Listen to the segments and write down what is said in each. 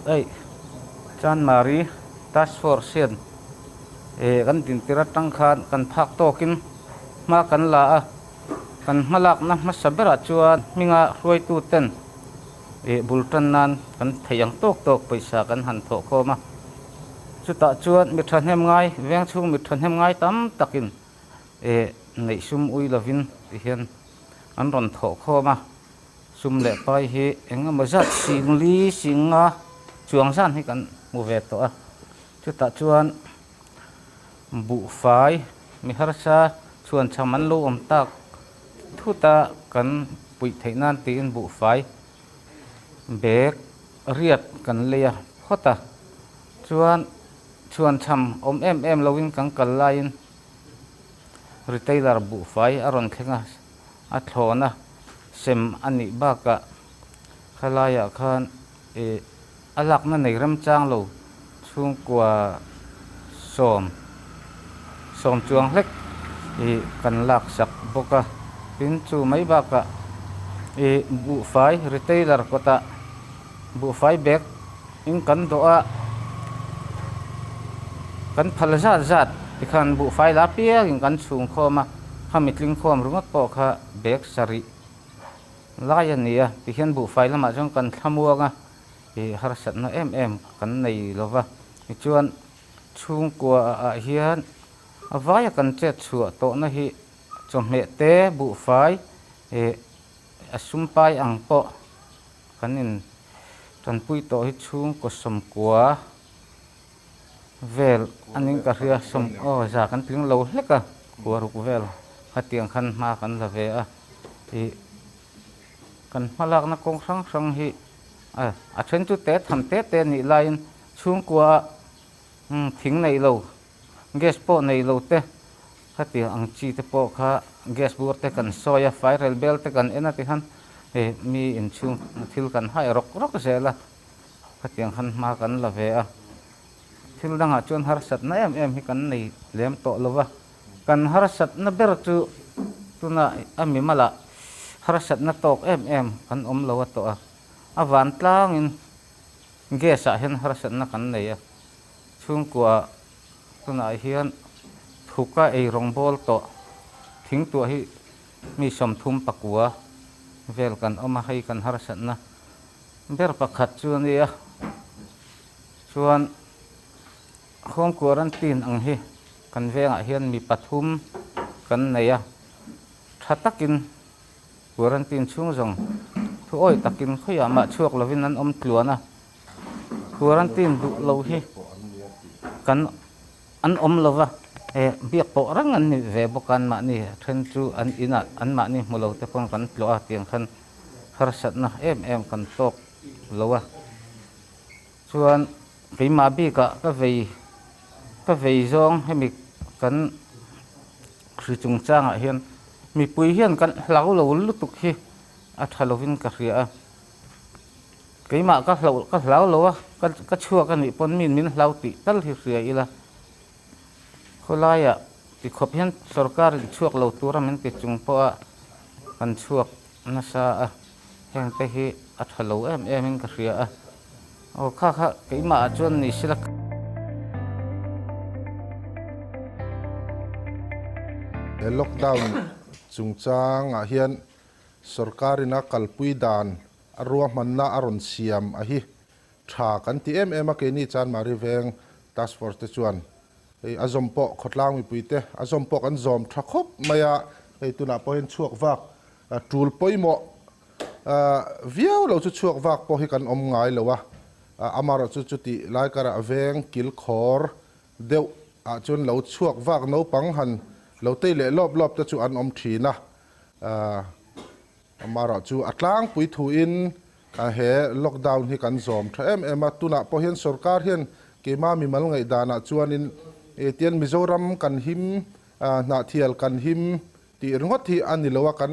Eih chuan Mari, Task Force hian kan dintira atang khan kan phak tawkin hma kan la a, kan hma lakna hmasa berah chuan hminga hruaituten bul tan nan kan theih ang tawk tawk pawisa kan han thawh khawm a, chutah chuan mi thahnem ngai vengchhung mi thahnem ngai tam takin e ngeih sum ui lovin ti hian an rawn thawh khawm a, sum leh pai hi eng emaw zat sing li sing nga chuang zan hi kan hmu ve tawh a, chutah chuan buhfai mi harsa chhuan chham an lo awm tak thut a kan puih theih nan tiin buhfai bag riat kan lei a hawt a chuan. Chuan chham awm em em loin kan kal laiin retailer buhfai a rawn thleng a, a thlawn a sem a nih bakah khalaia khan eh a lakna nei rem chang lo, chhungkua sawm sawm chuang hlek i kan lak sak bawk a, tin chu mai bakah eh buhfai retailer kawtah. Buhfai bag in kan dawh a, kan phal zat zat tikhan buhfai la piak in kan chhung khawm a, kha mi tlingkhawm ringawt pawh kha bag sarih lai a nia, tihian buhfai lamah chuan kan thla muang a, ih harsatna em em kan nei lo va, tichuan chhungkua ah hian a vaia kan chet chhuah tawhna hi chawhmeh te buhfai ih a sumpai ang pawh, kan in tanpui tawh hi chhung kaw sawmkua vel a ning ka hria sawm aw za kan tling lo hlek a khuaruk vel khatiang khan hma kan la ve a ih kan hmalakna kawng hrang hrang hi a a then chu te tham te te nih laiin chhungkua ah thing neih lo. Gas pawh nei lo te, heti ang chi te pawh kha gas bur te kan sawi a, fai rel bel te kan en a ti khan he mi in chhung thil kan haih rawk rawk zel a, heti ang khan hma kan la ve a. Thil dang ah chuan harsat na em em hi kan nei lem tawh lo va, kan harsat na ber chu tuna a mimal ah harsat na tawk em em kan awm lo a tawh a, a van tlang in gas ah hian harsat na kan nei a. Chhungkua tunah hian thuka ei rawngbawl tawh thingtuah hi mi sawmthum pakua vel kan awm a, hei kan harsatna ber pakhat chu a nia chuan Hawngkua Rantin ang hi kan vengah hian mi pathum kan nei a, tha takin Kuarantin chhung zawng thuawih takin khawiah mah chhuak lovin an awm tluan a, Quarantine duh lo hi kan an awm lo va, eh biak pawh reng an nih ve bawk a, anmahni a then chu an inah anmahni hmu lo te pawn kan tlawh a tiang khan harsatna em em kan tawk lo a, chuan keimah bikah ka vei ka vei zawng hemi kan hri chungchangah hian mipui hian kan hlau lo lutuk hi a tha lovin ka hria a. Keimah ka hlauh ka hlau lo a, ka ka chhuak a nih pawn min min hlau tih tal hi hria ila. Khawlaia ti khawp hian sorkar in chhuak lo tur a min ti chung pawha kan chhuak nasa a, heng te hi a tha lo em em in ka hria a. Aw kha kha keimah ah chuan ni sila. Lockdown chungchang ah hian Sorkarin a kalpui dan a ruahmanna a rawn siam a hi tha kan ti em em a, keini chuan Mari Veng Task Force te chuan hei a zawm pawh khawtlang mipui te a zawm pawh kan zawm tha khawp mai a, hei tunah pawh hian chhuak vak tul pawimawh viau lo chu chhuak vak pawh hi kan awm ngai lo a, amarawh chu chutih Laikara veng kil khawr deuh ah chuan lo chhuak vak naupang han lo tei leh lawp lawp te chu an awm thin a, Aaa mah ruah chu a tlangpui thuin he lockdown hi kan zawm tha em em a, tunah pawh hian sorkar hian keimah mi mal ngaihdanah chuanin tian Mizoram kan him hnahthial kan him tih ringawt hi a ni lo a, kan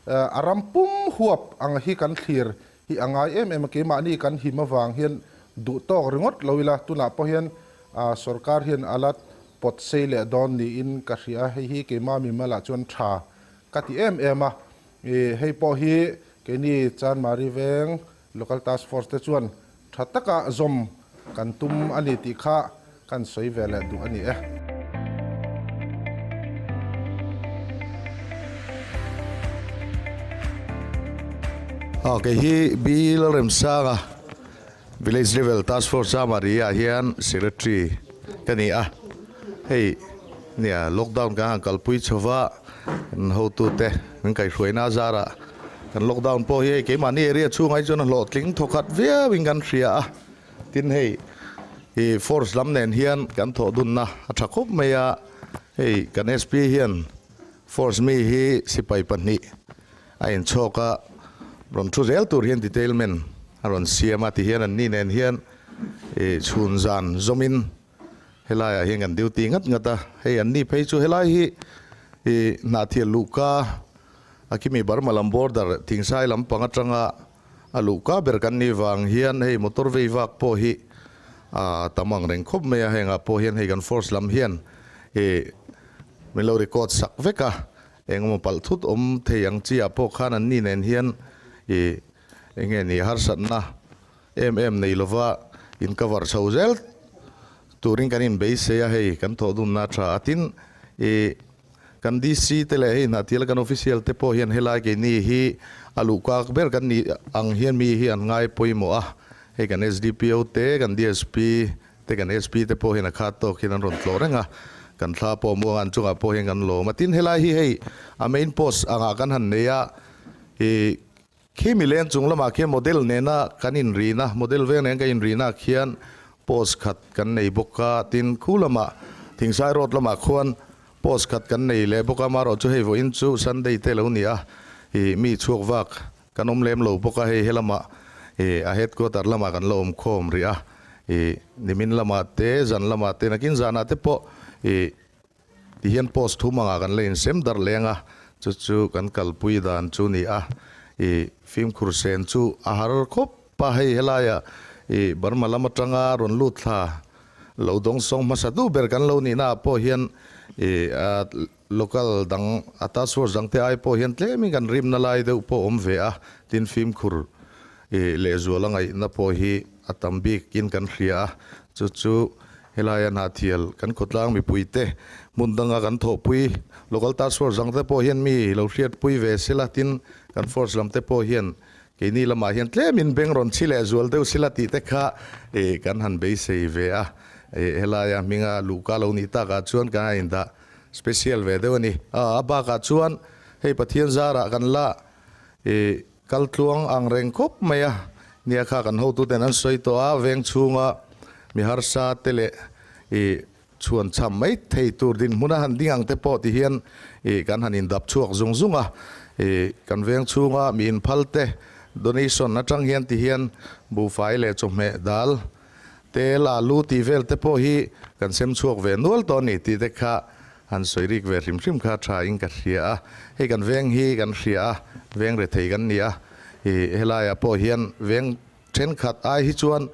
a ram pum huap ang hi kan thlir Hi a ngai em em a, keimahni kan him avang hian duh tawk ringawt lo ila, tunah pawh hian sorkar hian ala pawt sei leh dawn niin ka hria a, hei hi keimah mi mal ah chuan tha ka ti em em a, hei pawh hi keini Chanmari veng local task force te chuan tha taka zawm Kan tum a ni tih kha kan sawi ve leh duh a ni e. A kei hi Bi Lalremsanga Village Level Task Force Chama Ri ah hian Secretary ka ni a, hei. Nia, lockdown kan han kalpui chho va, kan hotute kan kaihruaina zarah kan lockdown pawh hi hei keimahni area chhunga hi chuan a hlawhtling thawkhat viauin kan hria a, tin hei i force lam nen hian kan thawhdunna a tha khawp mai a, hei kan SP hian force mi hi sipai pahnih a inchhawk a, rawn thu zel tur hian detailment a rawn siam a, tihian an nih nen hian i chhun zan zawmin. Helaiah hian kan duty ngat ngat a, hei an ni phei chu helai hi i Hnahthial luhka a Kimi Burma lam border Thingsai lampang atanga a luhka ber kan ni vang hian hei motor vei vak pawh hi a tam ang reng khawp mai a, hengah pawh hian hei kan force lam hian i min lo record sak vek a, engemaw palh thut awm thei ang chiah pawh khan an ni nen hian i enge ni harsatna. Em em nei lova in cover chho zel turin kan in beisei a hei kan thawh dun na tha a tin i kan DC te leh hei Hnahtila kan official te pawh hian helai keini hi a luh kak ber kan nih ang hian mi hi an ngai pawimawh a hei kan SDPO te kan DSP te kan SP te pawh hian a khat tawk hian an rawn tlawh reng a kan thla pawh muang a an chungah pawh hian kan lawm a tin helai hi hei a main post angah kan han nei a i Khi mileng chung lamah khian model nena kan inrin a, model veng nen ka inrinah khian pose khat kan nei bawk a, tin khu lamah Thingsai road lamah khuan pose khat kan nei leh bawk a, marawh chu hei vawiin chu Sunday te lo ni a, i mi chhuak vak kan awm lem lo bawk a, hei helama i a headquarter lamah kan lo awm khawm ri a, i nimin lamah te, zan lamah te, nakin zanah te pawh i. Ti hian post thu hmangah kan la insem darh leng a, chu chu kan kalpui dan chu ni a, i fimkhur sen chu a har khawp a, hei helaiah i Burma lam atanga rawn lut thla lo dawng sawng hmasa duh ber kan lo nihna ah pawh hian i a local dang a task force dangte ai pawh hian tlem in kan rimna lai deuh pawh awm ve a, tin fimkhur I lehzual a ngaihna pawh hi a tam bik in kan hria a, chu chu helai a hnathial kan khawtlang mipui te hmun dang a kan thawhpui, local task force ang te pawh hian mi lo hriat pui ve se la tin kan force lam te pawh hian keini lamah hian tlem in beng rawn chhi leh zual deuh se la tih te kha i kan han beisei ve a, i helai a hming a luh ka lo nih tak ah chuan kan han in dah special ve deuh a ni, a a bak ah chuan hei Pathian zar ah kan la i. Kal tluang ang reng khawp mai a nia kha kan hotu ten an sawi tawh a, veng chhunga mi harsa te leh ih chhuan chham mai thei tur dinhmun a han ding ang te pawh ti hian ih kan han in dap chhuak zung zung a, ih kan veng chhunga mi in phal te donation atang hian ti hian buhfai leh chawhmeh dal Tel, alu tih vel te pawh hi kan sem chhuak ve nual tawh a ni tih te kha han sawi rik ve hrim hrim kha tha in ka hria a, hei kan veng hi kan hria a veng rethei kan ni a, i helai ah pawh hian veng thenkhat ai hi chuan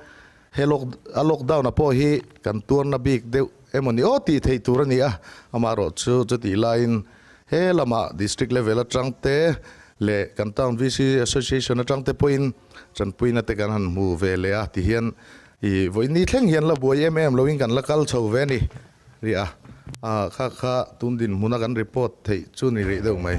he lock a lockdown ah pawh hi kan tuarna bik deuh emaw ni aw tih theih tur a ni a, amah erawh chu chutih lai in he lamah district level atang te leh kan town VC association atang te pawh in. Chanpuina te kan han hmu ve leh a ti hian i vawi ni thleng hian la buai em em loin kan la kal chho ve ni ri a, a kha kha tun dinhmuna kan report theih chu ni rih deuh mai.